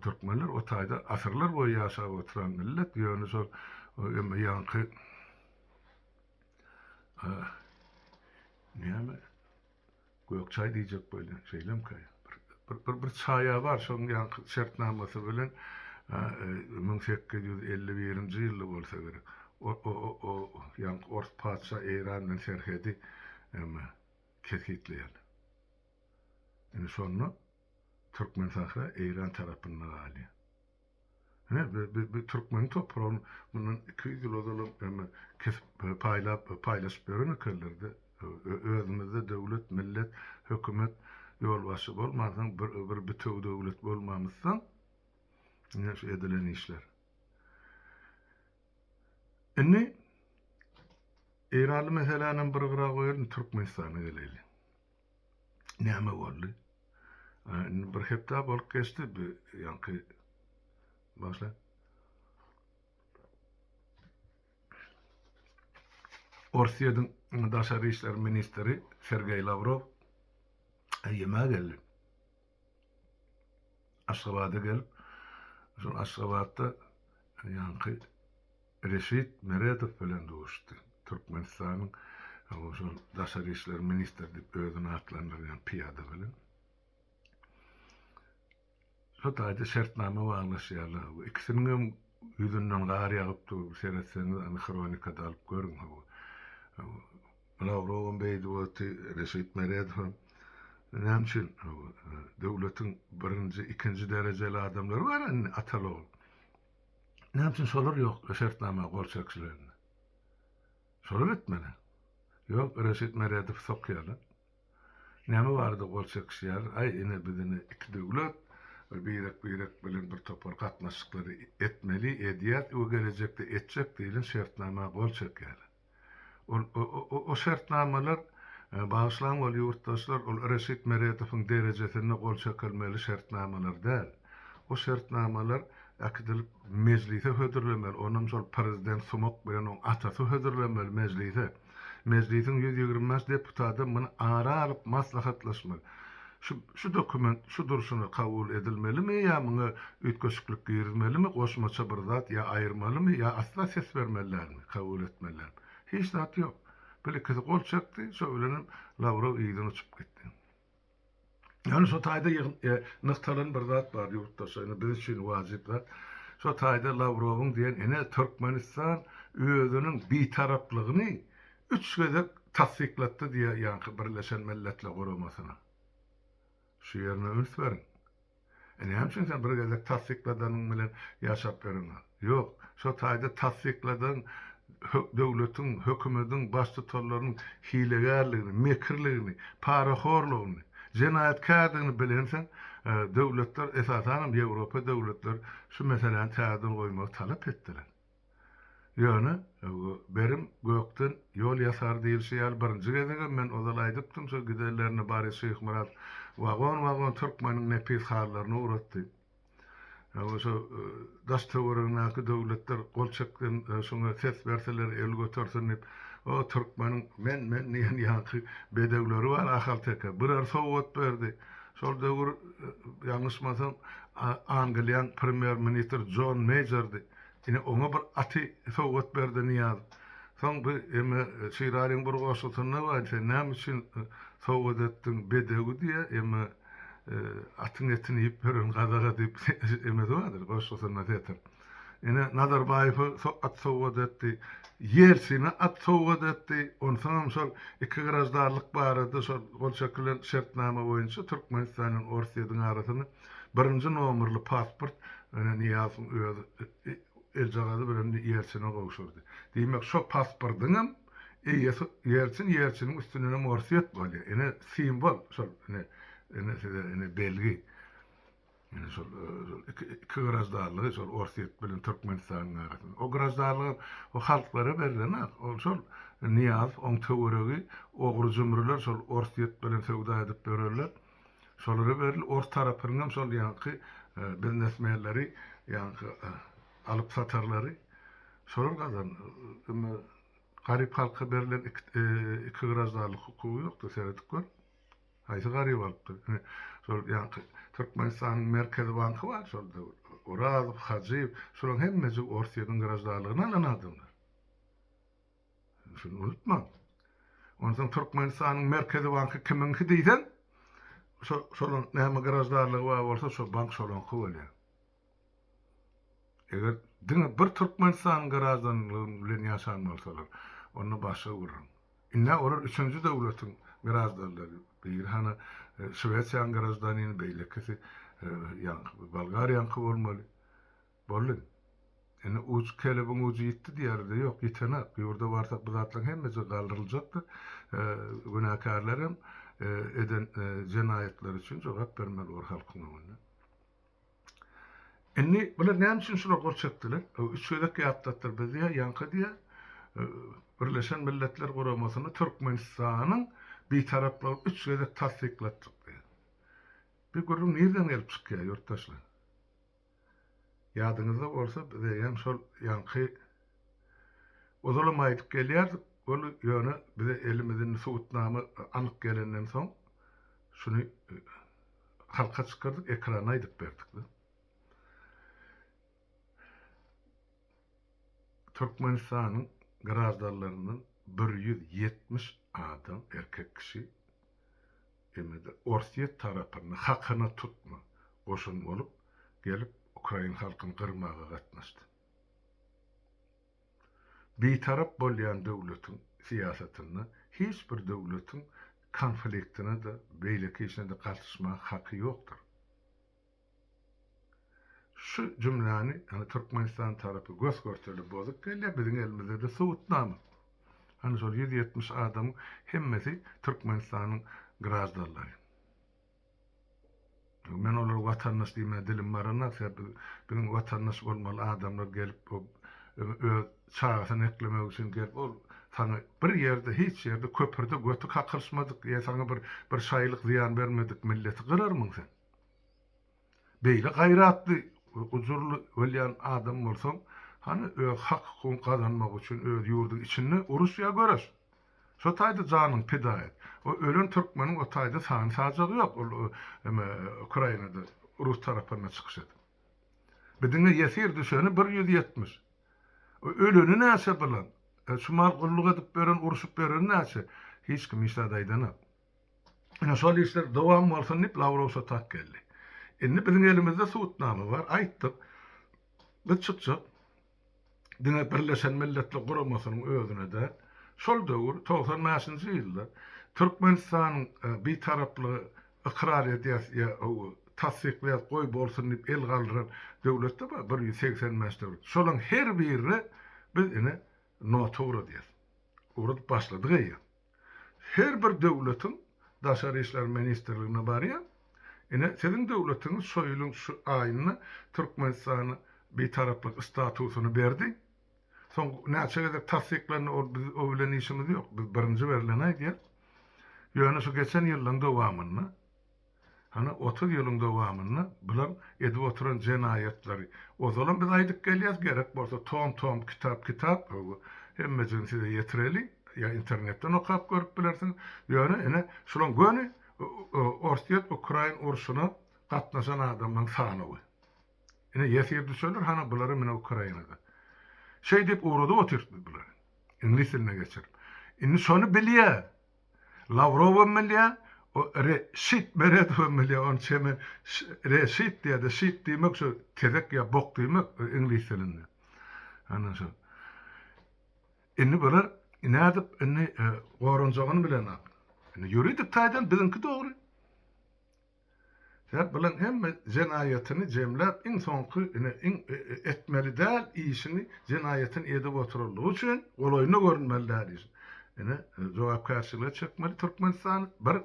Türkmenler o taýda asyrlar boýy ýaşap oturan millet, ýöne şol emma ýaňky näme Gök çaý diýjek bolýan, şeýlemkä? Bir bir çaýa bar, şoň ýaňky şertnamasy bilen müň sekiz ýüz elli birinji ýylda bolsa gerek. O ýaňky ors patyşa Eýran bilen serhedi emma kesgitleýän. Indi şonda Türkmen Sahra Eýran tarapynda galýar. Hä, bi-bi-bi türkmeniň topragyny mundan iki ýüz ýyl ozalam eme kesip, paýlap, paýlaşyp beren ekenler-de. Ö-ö-özümizde döwlet, millet, hökümet, ýolbaşçy bolmansoň, bir-bir bitewi döwlet bolmamyzsoň, ine şu edilen işler. Indi eýranly meselänem bir gyra goýalyň, Türkmenistana geleýliň. Näme boldy? Ana, indi bir hepde bolup geçdi, bu ýaňky başla. Orsýetiň daşary işler ministri Sergeý Lawrow Ýeme geldi. Aşgabada gelip, şol Aşgabatda ýaňky Reşit Meredow bilen duşdy. Türkmenistanyň şol daşary işler ministri diýip özüni atlandyrýan pyýada bilen. Şo taýda şertnama baglaşýarlar. Bu ikisiniň hem ýüzünden gar ýagyp dur. Seretseňiz, hronikada alyp görüň. Lawrowam beýdip otdy, Reşit Meredowam. Näme üçin? Döwletiň birinji, ikinji derejeli adamlary bar indi atal-ogul. Näme üçin şolar ýok şertnama gol çekişlerinde? Şolar etmeli. Ýok, Reşit Meredowy sokýarlar. Näme barada gol çekişýärler? Aý, ine biz indi iki döwlet, bir birek-birek bilen bir topar gatnaşyklary etmeli, edýäs we gelejekde etjek diýlen şertnama gol çekýärler. Ol şertnamalar, bagyşlaň ol ýurtdaşlar, ol Reşit Meredowyň derejesinde gol çekilmeli şertnamalar däl. O şertnamalar äkidilip Mejlise hödürlemeli, onam şol Prezident sumak bilen oň atasy hödürlemeli Mejlise. Mejlisiň ýüz ýigrimi bäş deputadam muny ara alyp maslahatlaşmaly. Şu dokument şu durşuna kabul edilmelimi ýa muňa üýtgeşiklik girizmelimi, goşmaça bir zat ýa aýyrmalymy ýa asla ses bermeli dälmi, kabul etmeli dälmi? Hiç zat ýok. Bir ikisi gol çekdi, şo bilenem Lawrow yzdan uçup gitdi. Ýöne şo taýda nygtalan bir zat bar ýurtdaşlar, indi biz üçin wajyp zat. Şo taýda Lawrowyň diýen ene Türkmenistan özüniň bitaraplygyny Üç gezek tassyklatdy diýýär ýaňky Birleşen Milletler Guramasynyň. Şu ýerine üns beriň. E näme üçin sen bir gezek tassykladanyň bilen ýaşap ýöreňok? Ýok, şo taýda tassykladan döwletiň, hökümediň baştutanlarynyň hilegärligini, mekirligini, parahorlugyny, jenaýatkärdigini bilensiň, döwletler, esasanam Ýewropa döwletleri şu meseläni täzeden goýmagy talap etdiler. Ýöne, berim gökden ýol ýasar diýilşi ýaly, birinji gezegem men ozal aýdypdym, şo gidenlerinde Baryş Şyhmyrat wagon-wagon türkmeniň nepis halylaryny ugratdy. Ýa-da şo daş-töweregindäki döwletler gol çeksin, şuňa ses berseler, el götersin diýip, o türkmeniň men-men diýen ýaňky bedewleri bar, ahalteke. Birer sowgat berdi. Şol döwür, ýalňyşmasam, Angliýaň premýer-ministri Jon Meýjerdi. Ine, oňa bir aty sowgat berdi Nyýaz. Soň bir emme Şiralyň bir goşgusynda bar, Sen näme üçin sowgat etdiň bedewi diýýä, emme atyň etini iýip ýören gazaga diýip emmesi bardyr goşgusynda setir. Ine, Nazarbaýewe at sowgat etdi, Ýelsine at sowgat etdi, onsoňam şol iki graždanlyk barada şol gol çekilen şertnama boýunça Türkmenistan bilen Orsýediň arasynda Birinji nomerli pasport ine Nyýazowyň özi eljagazy bilen Ýeltsine gowşurdy. Diýmek, şo pasportyňam eýesi Ýeltsin, Ýeltsiniň üstündenem Orsýet bolýar. Ine simwol şol ine ine size ine belgi. Ine şol iki iki graždanlygy şol Orsýet bilen Türkmenistanyň arasynda. O graždanlygam o halklara berlenok. Ol şol Nyýazow oň töweregi ogry-jümriler şol Orsýet bilen söwda edip ýörerler. Şolara beril ors tarapynyň hem şol ýaňky biznesmenleri ýaňky alyp satarlary şolar gazandy. Indi garyp halka berlen iki graždanlyk hukugy ýokdy seredip gör. Haýsy garyp alypdy? Indi şol ýaňky Türkmenistanyň merkezi banky bar şol döwür. Orazow, Hajyýew şolaryň hemmesi Orsyýeden graždanlygyny alan adamlar. Şuny unutmaň. Onsoň Türkmenistanyň Merkezi banky kimiňki diýseň, şo şolaň näme graždarlygy bar bolsa, şo bank şolaňky bolýar. Eger diňe bir Türkmenistanyň graždanlygy bilen ýaşan bolsalar, onda başga gürrüň. Ine, olar üçünji döwletiň graždanlary. Biri hany Şwesiýanyň graždanini, beýlekisi ýaňky Bolgariýanyňky bolmaly. Boldy. Indi uç kelebiň ujy ýitdi diýerdi-de, ýok, ýitenak. Ýurda barsak bu zatlaryň hemmejigi galdyryljakdyr. Günäkärler hem eden jenaýatlary üçin jogap bermeli bolar halkyň öňünde. Indi bular näme üçin şular gol çekdiler? Üç gezek ýatlatdylar. Biz diýýä, ýaňky diýýä, Birleşen Milletler Guramasyny Türkmenistanyň Bitaraplygyny üç gezek tassyklatdyk diýýä. Bu gürrüň nirden gelip çykýar, ýurtdaşlar? Ýadyňyzda bolsa bize hem şol ýaňky uzulam aýdyp gelýärdik, ol ýöne bize elimiz indi subutnama anyk gelenden soň şuny halka çykardyk, ekrana aýdyp berdik. Türkmenistanyň graždanlaryndan bir ýüz ýetmiş adam, erkek kişi, Emede Orsýet tarapyny hakyna tutma goşun bolup gelip ukrain halkyny gyrmaga gatnaşdy. Bitarap bolýan döwletiň syýasatynda hiç bir döwletiň konfliktine-de, beýleki işine-de gatyşmaga haky ýokdur. Şu jümläni ýagny Türkmenistan tarapy gös-görtele bozup gelýär, biziň elimizdede subutnama. Hany şol ýüz ýetmiş adamyň hemmesi Türkmenistanyň graždanlary. Men olara watandaş diýmäge dilim baranok, sebäbi biziň watandaş bolmaly adamlar gelip öz çagasyny eklemek üçin gelip ol saňa bir ýerde hiç ýerde köprüde göti kakylyşmadyk ýa saňa bir bir şaýylyk zyýan bermedik milleti gyrarmyň sen? Beýle gaýratly we gujurly bolýan adam bolsaň, hany öz hak-hukugyňy gazanmak üçin öz ýurduň içinde uruş ýa göreş. Şo taýda janyňy pida et. O ölen türkmeniň o taýda sany-sajagy ýok, ol eme Ukrainada rus tarapynda çykyş edip. Bi diňe ýesir düşeni bir ýüz ýetmiş. O öleni näçe bilen? Şu mal gulluk edip beren urşup bereni näçe? Hiç kim hiç zat aýdanok. Ine, şol işler dowam bolsun diýip, Lawrow şo tak geldi. Indi biziň elimizde subutnama bar, aýtdyk. Biz çykjak. Diňe Birleşen Milletler Guramasynyň özüne däl. Şol döwür, togsan bäşinji ýylda Türkmenistanyň Bitaraplygy ykrar edýäs ýa tassyklaýas, goý bolsun diýip el galdyran döwlet-de bar, bir ýüz segsen bäş döwlet. Şolaryň her birine biz ine nota ugradýas. Ugradyp başladyk eýýäm. Her bir döwletiň Daşary işler ministrligine barýan. Ine, siziň döwletiňiz şo ýylyň şu aýynda Türkmenistana Bitaraplyk statusyny berdi. Soň näçe gezek tassyklandy, ol biz o bilen işimiz ýok. Biz birinji berleni aýdýas. Ýöne şu geçen ýyllaryň dowamynda. Hany otuz ýylyň dowamynda bular edip oturan jenaýatlary ozalam biz aýdyp gelýäs gerek bolsa tom tom kitap kitap hemmejigini size ýetireli ýa internetden okap görüp bilersiňiz ýöne ine şulaň göni orsýet ukrain urşuna gatnaşan adamlaň sanawy ine ýesir düşeler hany bulary mine ukrainada şeýdip ugradyp otyrtmy bulary iňlis diline geçirip indi şony bilýä Lawrowam bilýär, o Re şit Meredowam bilýär, ony çemen Re şit diýýär-de, şit diýmek şu tezek ýa bok diýmek iňlis dilinde. Ana şo. Indi bular nädip indi goranjagyny bilenok. Indi ýuridik taýdan biziňki dogry. Sen bilen hemme jenaýatyny jemläp iň soňky ine iň etmeli däl işini jenaýatyny edip oturanlygy üçin golaýynda görünmeli däl işini ine jogapkärçilige çekmeli türkmenistany bir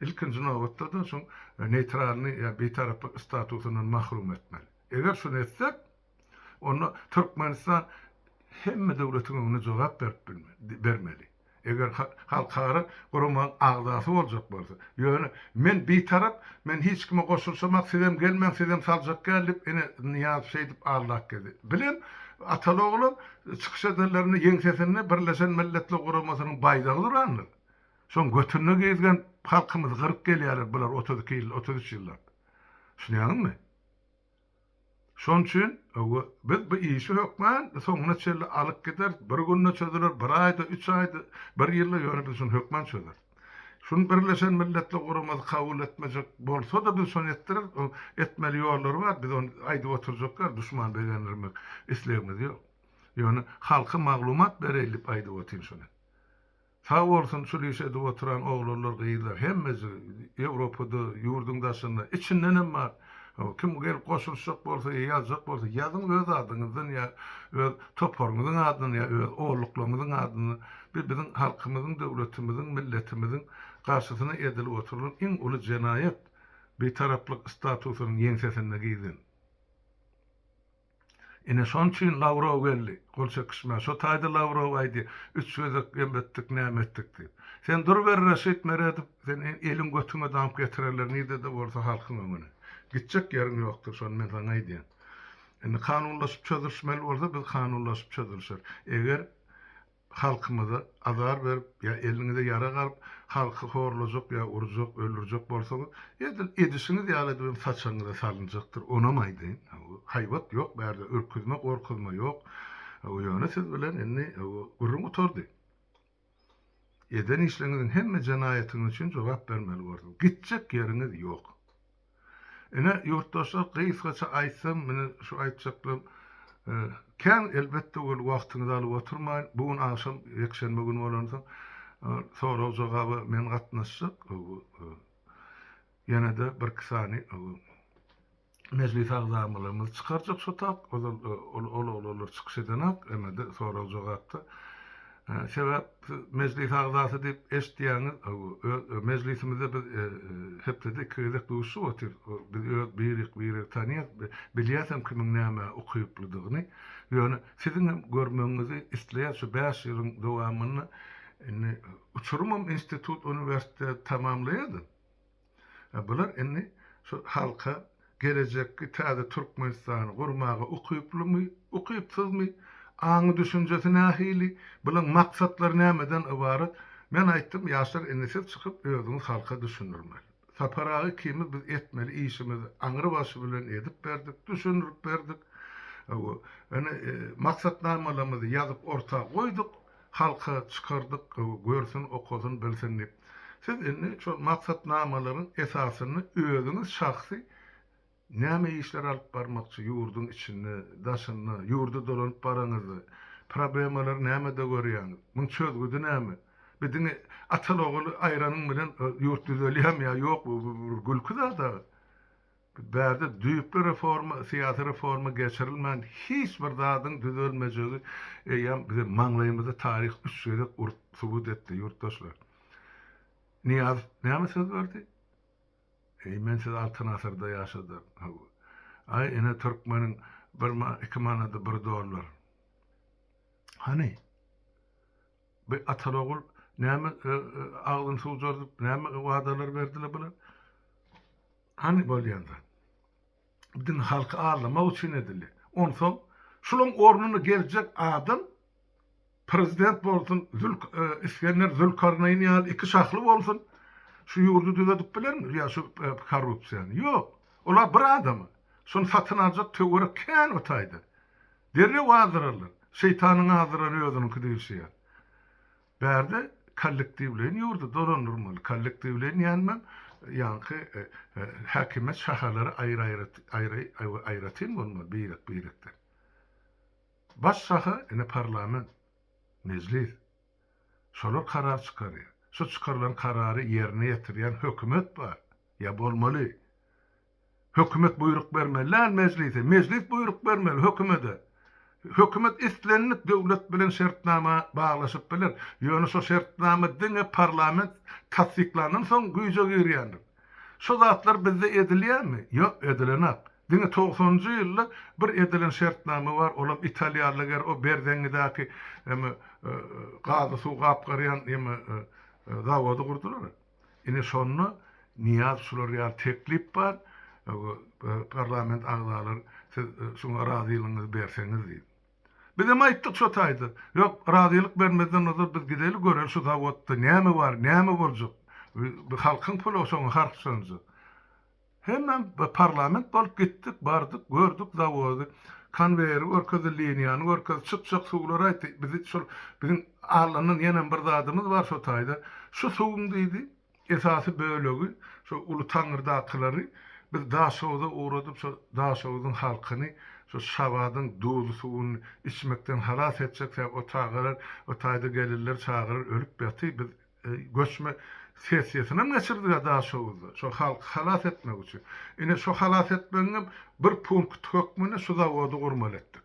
ilkinji nobatda-da şoň neýtralnyý ýa bitaraplyk statusyndan mahrum etmeli eger şuny etsek Onda Türkmenistan hemme döwletiň öňünde jogap berip bermeli. Eger halkara guramaň agzasy boljak bolsa. Ýöne men bitarap, men hiç kime goşulyşamak, sizem gelmäň, sizem saljak gel diýip ene Nyýazow şeýdip aldap gezdi. Bilen Ataly oglan çykyş edenlerinde ýeňsesinde Birleşen Milletler Guramasynyň baýdagy durandyr. Şoň götünde gezgen halkymyzy gyryp gelýärler bular otuz iki ýyl, otuz üç ýyllap. Düşünýäňizmi? Şonuň üçin biz bu işi hökmän soňuna çenli alyp gideris. Bir günde çözüler, bir aýda, üç aýda, bir ýylda, ýöne biz şuny hökmän çözeris. Şuny Birleşen Milletler Guramasy kabul etmejek bolsa-da, biz şony etdireris. Onuň etmeli ýollary bar. Biz ony aýdyp oturjak däl, duşmany begendirmek islegimiz ýok. Ýöne halka maglumat bereýin diýip aýdyp otyryn şuny. Sag bolsun şul iş edip oturan oglanlar gyzlar hemmesi Ýewropada ýurdyň daşynda içindenem bar kim gelip goşulyşjak bolsa ýa ýazjak bolsa ýazyň öz adyňyzdan ýa öz toparyňyzyň adyna ýa öz ogluklarňyzyň adyna bi biziň halkymyzyň döwletimiziň milletimiziň garşysyna edilip oturylan iň uly jenaýat bitaraplyk statusynyň ýeňsesinde gizlin. Ine şoň üçin Lawrow geldi gol çekişmä. Şo taýda Lawrow aýdy, üç gezek em etdik, näme etdik diýip. Sen durber Reşit Meredow, seni eliň götüňe damyp getirerler nirde-de bolsa halkyň öňüne. Gitjek ýeriň ýokdur, şony men saňa aýdýan. Indi kanunlaşyp çözülişmeli bolsa biz kanunlaşyp çözülişeris. Eger halkyňyza azar berip ýa eliniňize ýarag alyp halky horlajak ýa urjak öldürjek bolsaňyz edil edişiňiz ýaly edibem saçagyňyza salynjakdyr onam aýdaýyn haýbat ýok bärde ürküzme gorkuzma ýok ýöne siz bilen indi gürrüň gutardy eden işleňiziň hemme jenaýatyňyz üçin jogap bermeli borsuňyz gitjek ýeriňiz ýok. Ine, ýurtdaşlar, gysgaça aýtsam, mine, şu aýtjaklarym kän, elbetde, ol wagtyňyzy alyp oturmaýyn. Bu gün agşam, ýekşenbe güni bolansoň, sorag-jogaba men gatnaşjak. Ýene-de birki sany mejlis agzamylarymyzy çykarjak şotap. Ol-ol, ol-olar çykyş edenak, eme-de, sorag-jogapda. Sebäp siz mejlis agzasy diýip eşitýäňiz, mejlisimizde biz hepdede iki gezek duşup otyrys, biz öz birik biri tanýas, bilýäsem kimiň nämä ukyplydygyny, ýöne siziňem görmegiňizi isleýäs, şu bäş ýylyň dowamynda indi uçurymam institut uniwersitet tamamlaýardy, Bular indi şu halka gelejekki täze Türkmenistany gurmaga ukyplymy, ukypsyzmy, aňy-düşünjesi nähili, bulaň maksatlary nämeden ybarat? Men aýtdym, ýaşlar indi siz çykyp özüňiz halka düşündirmeli. Sapar aga ikimiz biz etmeli işimizi aňrybaşy bilen edip berdik, düşündirip berdik. Indi maksatnamalarymyzy ýazyp orta goýduk. Halka çykardyk, görsün, okasyn, bilsin diýip. Siz indi şol maksatnamalaryň esasynda özüňiz şahsy näme işleri alyp barmakçy ýurduň içinde, daşynda? Ýurda dolanyp baraňyzda, problemalary nämede görýäňiz? Muň çözgüdi näme? Bir diňe ataly-oguly aýranyň bilen ýurt düzelýärmi ýa ýokmy? Bu bir gülki zat-a. Bärde düýpli reforma, syýasy reforma geçirilmän hiç bir zadyň düzelmejegi eýýäm biziň maňlaýymyzy taryh üç gezek urup subut etdi, ýurtdaşlar. Nyýazow näme söz berdi? Eý, men siz Altyn asyrda ýaşadar. Hawa. Aý, ine türkmeniň bir ma, iki manady bir dollar. Hany? Bu atal-ogul näme agzyny suwjardyp, näme wadalar berdiler bular? Hany bolýan zat? Bu diňe halky aldamak üçin edilýär. Onsoň şulaň ornuna geljek adam prezident bolsun, Zülk e, Isgender Zülkarnaýyn ýaly iki şahly bolsun, şu ýurdy düzedip bilermi? Ýa şu e, korrupsiýany? Ýok. Olar bir adamy. Şony satyn aljak töwerek kän o taýda. Derrew azdyrarlar. Şeýtanyň azdyran özüniňki diýilşi ýaly. Bärde kollektiwleýin ýurdy dolandyrmaly. Kollektiwleýin diýenimem, ýaňky häkimiýet şahalary aýry-aýry, aýry, aýratyn bolmaly, birek-birekden. Baş şaha, ine, parlament, mejlis. Şolar karar çykarýar. Şu çykarylan karary ýerine ýetirýän hökümet bar, ýa bolmaly. Hökümet buýruk bermeli däl Mejlise, Mejlis buýruk bermeli Hökümede. Hökümet islendik döwlet bilen şertnama baglaşyp biler, ýöne şo şertnama diňe parlament tassyklandan soň güýje girýändir. Şo zatlar bizde edilýärmi? Ýok, edilenak. Diňe togsanynjy ýylda bir edilen şertnama bar, olam italiýalyger o Berzeňňidäki eme gazy suw gapgarýan eme zawody gurdular. Ine şonda Nyýaz şular ýaly teklip bar, parlament agzalary siz şuňa razylygyňyzy berseňiz diýip. Bizem aýtdyk şo taýda, ýok, razylyk bermezden ozal biz gideli göreli şu zawodda näme bar, näme boljak, bu halkyň puly şoňa harçlanjak. Hemem parlament bolup gitdik, bardyk, gördük zawody, konweýeri görkezdi, liniýany görkezdi, çykjak suwlary aýtdy, bizi şol biziň alyndan ýenem bir zadymyz bar şo taýda, şu suwuň diýdi, esasy bölegi şo Uly Taňrydakyklary biz Daşoguza ugradyp, şo Daşoguzyň halkyny şo Şabadyň duzly suwuny içmekden halas etjek, sebäbi o tagalar o taýda gelinleri çagalar ölüp ýaty, biz Göçme sessiýasynyam geçirdiler Daşoguzda, şo halky halas etmek üçin. Ine, şo halas etmegiňem bir punkty hökmünde şu zawody gurmaly etdik.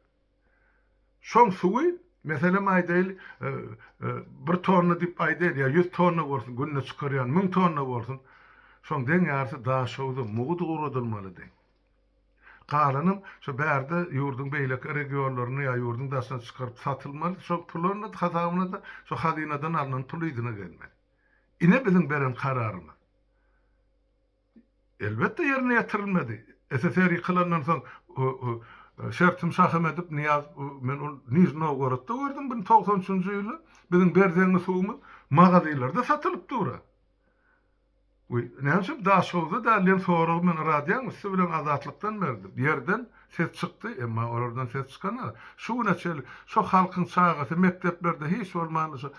Şoň suwy, meselem aýdaýyl, bir tonna diýip aýdaýyn, ýa ýüz tonna bolsun, günde çykarýan müň tonna bolsun, şoň deň ýarysy Daşoguza mugt ugradylmaly deň. Galanam şu bärde ýurduň beýleki regionlaryna ýa ýurduň daşyna çykaryp satylmaly, şol puluny hasabyna-da şu hazynadan alnan pul yzyna gelmeli. Ine biziň beren kararymyz. Elbetde ýerine ýetirilmedi. SSR ýykylandan soň Şertim Şahymedip Nyýaz men ol Nižny Nowgorodda gördüm bir togsan üçünji ýyly biziň Berzeňňi suwumyz magazylarda satylyp dur-a. Weý, näme üçin Daşoguzda däl diýen soragy men radioň üsti bilen Azatlykdan berdim. Ýerden ses çykdy, emma olardan ses çykanok. Şu güne çenli şo halkyň çagasy mekdeplerde hiç bolmanda şo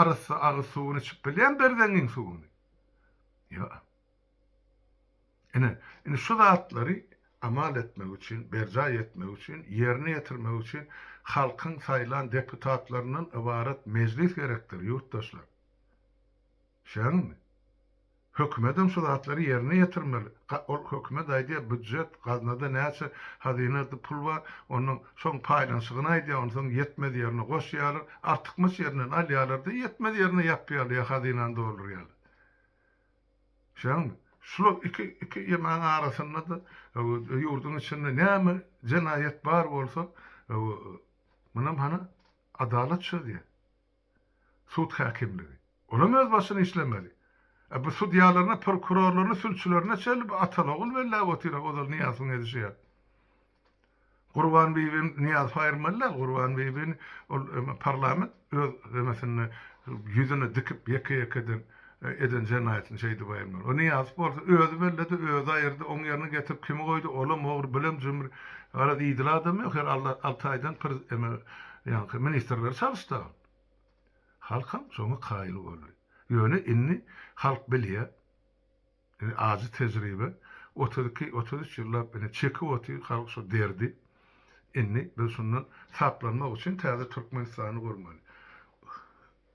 arassa agyz suwuny içip bilýärmi Berzeňiň suwuny? Ýok. Ine, indi şu zatlary amal etmek üçin, berjaý etmek üçin, ýerine ýetirmek üçin halkyň saýlan deputatlaryndan ybarat mejlis gerekdir, ýurtdaşlar. Şeýlelikmi? Hökümedem şu zatlary ýerine ýetirmeli. Ol hökümet aýdýar, býujet, gaznada näçe, hazynada pul bar, ondan şoň paýlanyşygyny aýdýar, onsoň ýetmez ýerine goşýarlar, artykmaç ýerinden alýarlar-da, ýetmez ýerine ýapýarlar ýa hazynany doldurýarlar. Şeýlelikmi? Şular iki, iki ýemäň arasynda-da, ýurduň içinde näme jenaýat bar bolsa, muny hany adalat çözýär. Sud häkimligi. Olam öz başyny işlemeli. A bu sudýalaryna, prokurorlaryna, sülçülerine çenli bu atalogul belläp otyr-a, ozal Nyýazowyň edişi ýaly. Gurbanbibi Nyýazowy aýyrmaly däl, Gurbanbibini ol parlament öz emesinde ýüzüne dikip ýeke-ýekeden Eden jenaýatyny şeýdip aýyrmaly. O Nyýazow bolsa özi belledi, özi aýyrdy, oň ýerine getirip kimi goýdy, olam ogry, bulam jümri. Garaz idil adam ýok, her al alty aýdan pir eme ýaňky ministrleri çalyşdy agam. Halkam şoňa kaýyl boldy. Ýöne indi halk bilýä. Ine ajy tejribe otuz iki, otuz üç ýyllap ine çekip otyr halk şu derdi. Indi biz şundan saplanmak üçin täze Türkmenistany gurmaly.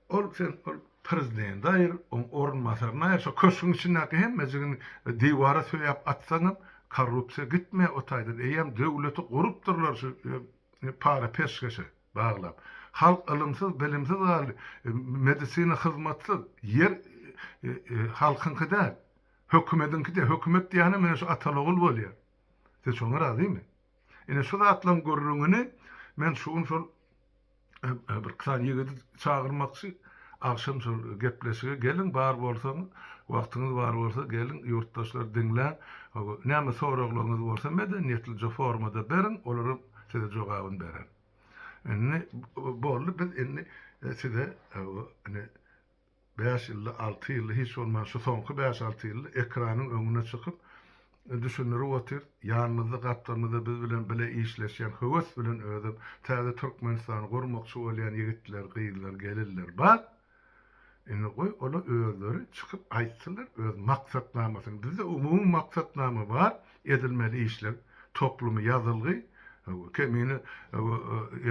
Ol sen ol prezidenti aýyr, oň orunbasaryny aýyr, şo köşgüň içindäki hemmejigini diwara söýäp atsaňam korrupsiýa gitmeýär o taýdan. Eýýäm döwleti gurupdyrlar şu para peşgeşe. Baglap. Halk ylymsyz, bilimsiz galdy. Medisina hyzmatsyz. Ýer halkyňky däl. Hökümediňkide. Hökümet diýýänem ine şu ataly-ogul bolýar. Siz şoňa razymy? Ine şu zatlaryň gürrüňini men şu gün şol bir sany ýigidi çagyrmakçy. Agşam şol gepleşige geliň, bar bolsaňyz, wagtyňyz bar bolsa geliň, ýurtdaşlar diňläň. Näme soraglaryňyz bolsa medeniýetlije formada beriň, olaram. Size jogabyn beren. Indi boldy biz indi e, size e, indi 5 ýylda 6 ýylda hiç bolman şu soňky 5-6 ýylda ekranyň öňüne çykyp e, düşündirip otyr. Ýanymyzda gapdalymyzda biz bilen bile işleşýän höwes bilen özüm täze Türkmenistany gurmakçy bolýan ýigitler, gyzlar, gelinler bar. Indi goý ola özleri çykyp aýtsynlar öz maksatnamasyny bizde umumy maksatnama bar edilmeli işler toplumy ýazylgy kemine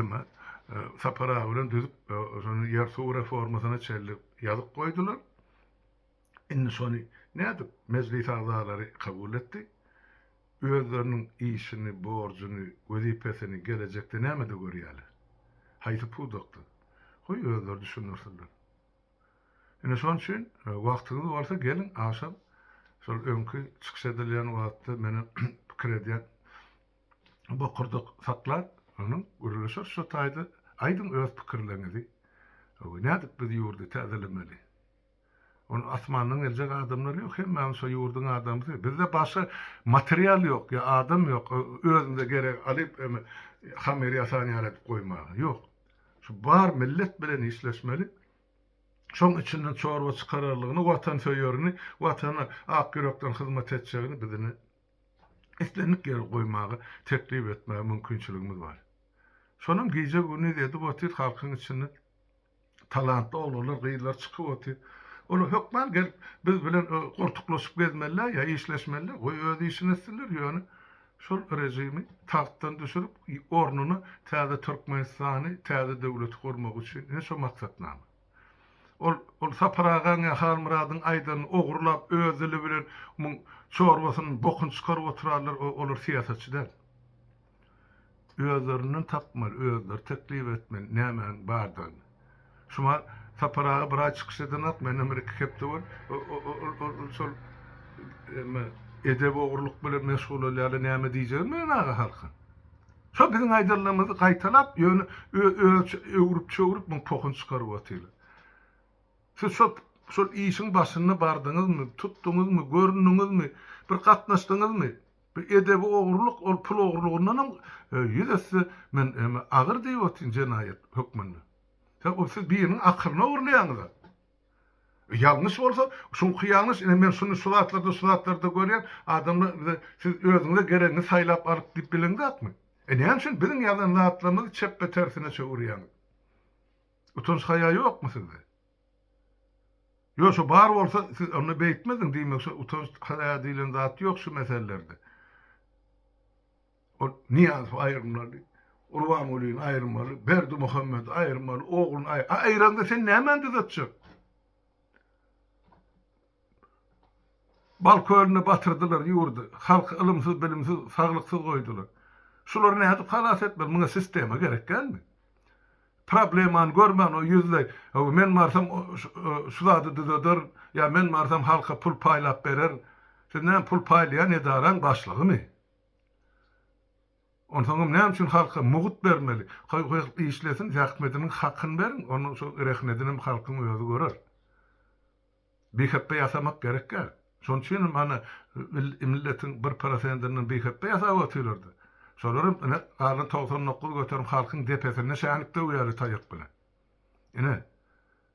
eme Sapar aga bilen düzüp şony ýer suw reformasyna çenli ýazyp goýdular Indi şony nädip Mejlis agzalary kabul etdi? Özleriniň işini, borjuny, wezipesini gelejekde nämede görýärler? Haýsy pudakda? Goý, özleri düşündirsinler. Ine şon üçin, wagtyňyz bolsa geliň, agşam şol öňki çykyş edilýän wagtda meni pikir edýän bokurdak saklar, onuň gürleşeris şo taýda. Aýdyň öz pikirleriňizi. Nädip biz ýurdy täzelemeli? Ol asmandan geljek adamlar ýok hemmämiz şo ýurduň adamsy bizde başga material ýok ýa adam ýok özümize gerek alyp hammer ýasan ýaly edip goýmaga ýok şu bar millet bilen işleşmeli şoň içinden çorba çykararlygyny watansöýerini watana ak ýürekden hyzmat etjegini bizini islendik ýere goýmaga teklip etmäge mümkinçiligimiz bar şonam gije gündiz edip otyr halkyň içinde. talantly oglanlar, gyzlar çykyp otyr. Olar hökman gelip biz bilen goltuklaşyp gezmeliler ýa işleşmeliler. Goý öz işini etsinler, ýöne şol režimi tagtdan düşürip, ornuna täze Türkmenistany, täze döwleti gurmak üçin ine şo maksatnama. Ol ol Sapar agaň ýa Halmyradyň aýdanyny ogurlap öz dili bilen muň çorbasynyň bokuny çykaryp oturarlar, olar syýasatçy däl. Özlerinden tapmaly, özleri teklip etmeli nämäniň bardygyny. Şuňa Sapar aga bir aý çykyş edenok, menden bir iki hepde bol. Ol şol emme edep ogurlyk bilen meşgul bolýarlar, näme diýjegini bilen aga halkyň. Şo biziň aýdanlarymyzy gaýtalap, ýöne öz öwrüp-çöwrüp muň pohun çykaryp otyrlar. Siz şo şol işiň başynda bardyňyzmy, tutduňyzmy, göründiňizmi, bir gatnaşdyňyzmy? Bu edebi ogurlyk ol pul ogurlygyndanam ýüz esse men eme agyr diýip otyryn jenaýat hökmünde. Sen ol siz biriniň akylyny ogurlaýaňyza. Ýalňyş bolsa şuňky ýalňyş ine men şuny şu zatlarda şu zatlarda görýän adamlar bize siz özüňize geregini saýlap alyk diýip bilen zatmy? E näme üçin biziň ýazan zatlarymyzy çepbe tersine çöwürýäňiz? Utanç haýa ýokmy sizde? Ýogsa bar bolsa siz onda beýtmezdiň diýmekçi utanç haýa diýlen zat ýok şu meselelerde. Ol Nyýazow aýyrmaly, Gurbangulyny aýyrmaly, Berdimuhamedi aýyrmaly, ogluny aýyrmaly. Aýyranda sen nämäni düzetjek? Bal kölüne batyrdylar ýurdy, halky ylymsyz-bilimsiz, saglyksyz goýdular. Şulary nädip halas etmeli? Muňa sistema gerek dälmi? Problemany görmän o ýüzleý, Hawa, men barsam şu zady düzederin, ýa men barsam halka pul paýlap bererin. Siz näme, pul paýlaýan edaraň başlygymy? Onsoňam näme üçin halka mugt bermeli? Goý, halk işlesin, zähmediniň hakyny beriň, onda şo rehnedinem halkyň özi görer. Biheppe ýasamak gerekkä? Şonuň üçin hem ana milletiň bir prosendinden biheppe ýasap otyrlar-da. Şolar hem ine galan togsan dokuz göterim halkyň depesinde şänik döwýärler taýak bilen. Ine,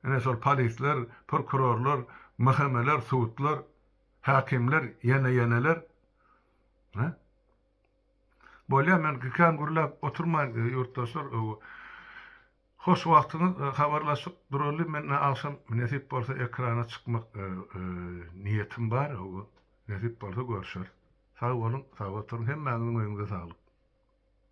ine şol polisler, prokurorlar, mhmler, sudlar, häkimler, ýene-ýeneler. Hä? Bolýar, men kän gürläp oturmaýyn, ýurtdaşlar. Hoş wagtyňyz habarlaşyk duraly men agşam nesip bolsa ekrana çykmak niýetim bar hawa nesip bolsa görşeris sag boluň sag oturyň hemmäňiziň öýüňize saglyk.